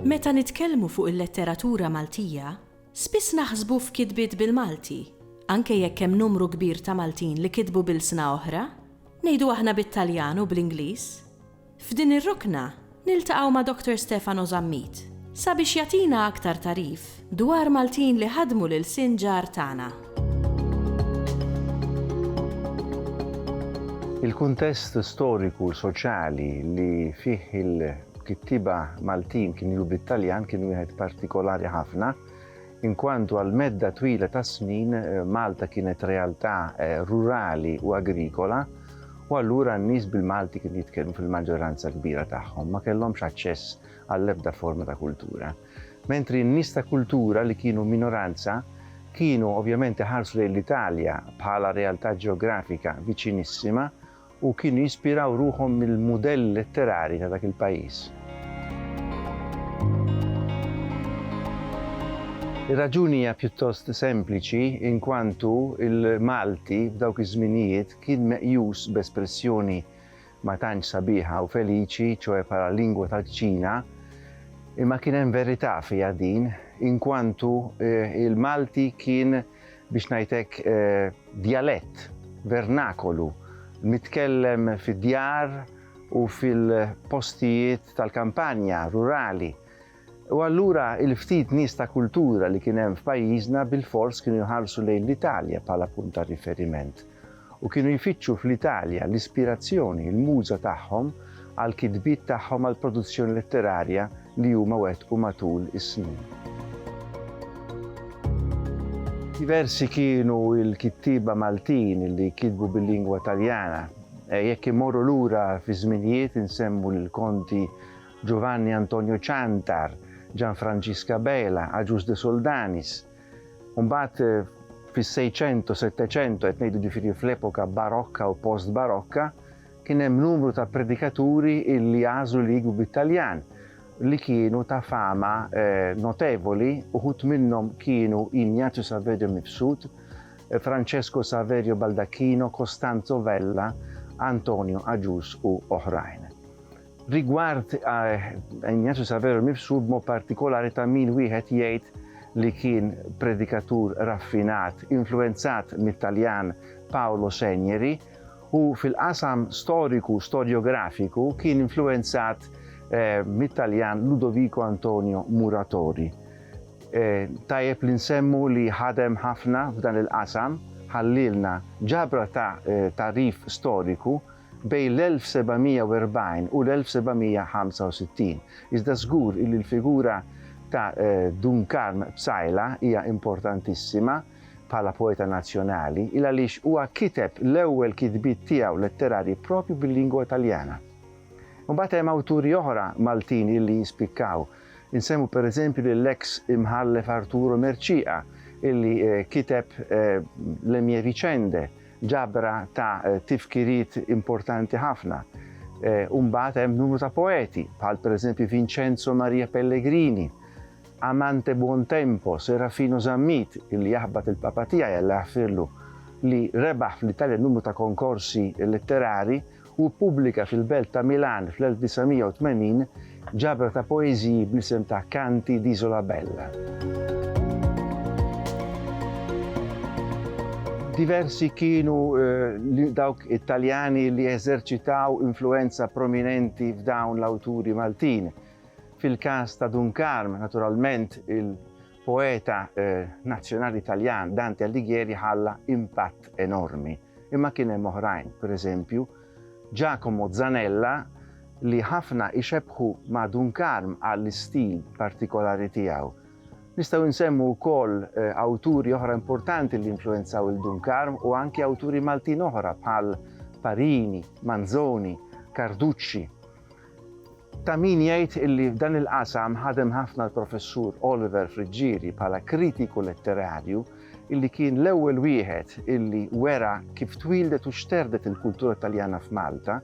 Meta nitkellmu fuq il-letteratura Maltija, spiss naħsbu f'kitbiet bil-Malti, anke jekk hemm numru kbir ta' Maltin li kitbu b'ilsna oħra, ngħidu aħna bit-Taljan u bl-Ingliż. F'din ir-rukna niltaqgħu ma' Dr. Stefano Zammit sabiex jagħtina aktar tagħrif dwar Maltin li ħadmu l-ilsien ġar tagħna. Il-kuntest storiku u soċjali li fih il-kittieba Maltin kienu jgħu bit-Taljan kien wieħed partikolari ħafna, Inkwantu għal medda twila ta' snin Malta kienet realtà rurali u agrikola u allura n-nies bil-Malti kienu jitkellmu fil-maġġoranza l-kbira tagħhom ma kellhomx aċċess għall-ebda forma ta' kultura. Mentri n-nies ta' kultura li kienu minoranza kienu ovvjament iħarsu lejn l-Italja bħala realtà ġeografika viċinissima u kienu jispiraw ruħhom mill-mudell letterari ta' dak il-pajjiż. Ir-raġuni hija pjuttost sempliċi inkwantu l-Malti f'dawk iż-żminijiet kien meqjus b'espressjoni ma tantx sabiħa u feliċi, ċoe bħala lingwa tal-kċina, imma kien hemm verità fiha din inkwantu l-Malti kien biex ngħid hekk, djalett, vernakolu, mitkellem fid-djar u fil-postijiet tal-kampanja, rurali. U allura il-ftit nies ta' kultura li kien hemm f'pajjiżna bilfors kienu jħarsu lejn l-Italja bħala punt ta' riferiment. u kienu jfittxu fl-Italja l-ispirazzjoni, il-muża tagħhom għall-kitbiet tagħhom għall-produzzjoni letterarja li huma wettqu matul is-snin. Diversi kienu l-kittieba Maltin li kitbu bil-lingwa Taljana. Jekk immorru lura fiż-żminijiet insemmu lill-Konti Giovanni Antonio Ciantar, Gianfrancisca Bela, Agius de Soldanis, Mbagħad fis-Sejċentu, Setteċentu, qed ngħidu ġifieri fl-epoka barokka u post-barokka, kien hemm numru ta' predikaturi illi għażlu li jikbu bit-Taljan li kienu ta' fama eh, notevoli, uħut minnhom kienu Ignazio Saverio Mifsud, eh, Francesco Saverio Baldacchino, Costanzo Vella, Antonio Agius u oħrajn. Rigward Ignazio Saverio nnifsu, b'mod partikolari ta' min wieħed jgħid li kien predikatur raffinat, influwenzat mit-Taljan Paolo Segneri, u fil-qasam storiku, storjografiku, kien influwenzat mit-Taljan Ludovico Antonio Muratori. Tajjeb li nsemmu li ħadem ħafna f'dan il-qasam, ħallielna ġabra ta' tagħrif storiku, bejn l-1740 u l-1765, iżda żgur illi l-figura ta' Dun Karm Psaila hija importantissima bħala poeta nazzjonali, il għaliex huwa kiteb l-ewwel kitbiet tiegħu letterarji proprju bil-lingwa Taljana. Imbagħad hemm awturi oħra Maltin illi jispikkaw. Insemmu pereżempju lill-eks Imħallef Arturo Mercieca illi kiteb Le mie vicende, Ġabra ta' tifkiriet importanti ħafna. U mbagħad hemm numru ta' poeti, bħal pereżempju Vincenzo Maria Pellegrini, Amante Buontempo, Serafino Zammit, illi jaħbat il-Papa tiegħi Alla jaħfirlu, li rebaħ fl-Italja numru ta' konkorsi letterari Hu ppubblika fil-belt ta' Milan fl-1980 ġabra ta' poeżiji bl-isem ta' Canti d'isola bella. Diversi kienu dawk it-Taljani li eżerċitaw influwenza prominenti f'dawn l-awturi Maltin. Fil-każ ta' Dun Karm, naturalment, poeta nazzjonali Taljan Dante Alighieri ħalla impatt enormi, imma kien hemm oħrajn, pereżempju, Giacomo Zanella li ħafna ixebbħu ma' Dun Karm għall-istil partikolari tiegħu. Nistgħu nsemmu wkoll awturi oħra importanti li influwenzaw lil Dun Karm u anki awturi Maltin oħra bħal Parini, Manzoni, Carducci. Ta' min jgħid illi f'dan il-qasam ħadem ħafna l-Professur Oliver Friggieri bħala kritiku letterarju illi kien l-ewwel wieħed illi wera kif twieldet u xterdet il-kultura Taljana f'Malta,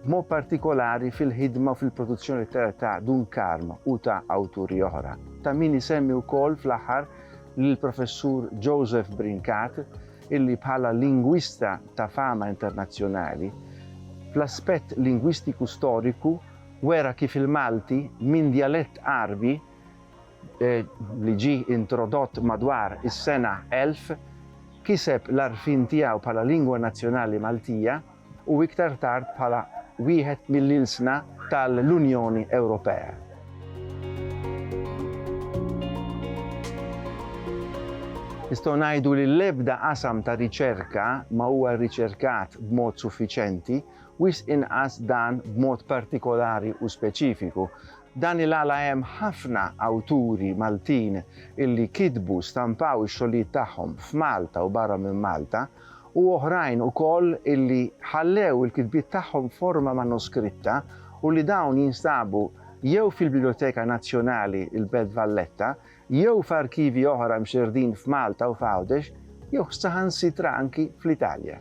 b'mod partikolari fil-ħidma u fil-produzzjoni letterarja ta' Dun Karm u ta' awturi oħra. Ta' min isemmi wkoll fl-aħħar lill-Professur Joseph Brincat, illi bħala lingwista ta' fama internazzjonali, fl-aspett lingwistiku storiku wera kif il-Malti minn djalett Għarbi li ġie introdott madwar is-sena 1000 kiseb l-għarfien tiegħu bħala lingwa nazzjonali Maltija, u iktar tard bħala wieħed mill-ilsna tal-Unjoni Ewropea. Nistgħu ngħidu li l-ebda qasam ta' riċerka ma huwa rriċerkat b'mod suffiċenti, wisq inqas dan b'mod partikolari u speċifiku. Dan il-għala hemm ħafna awturi Maltin illi kitbu, stampaw ix-xogħlijiet tagħhom f'Malta u barra minn Malta, u oħrajn ukoll illi ħallew il-kitbiet tagħhom f'forma manuskritta u li dawn jinstabu jew fil-Biblioteka Nazzjonali l-Belt Valletta jew f'arkivi oħra mxerrdin f'Malta u f'Għawdex jew saħansitra anki fl-Italja.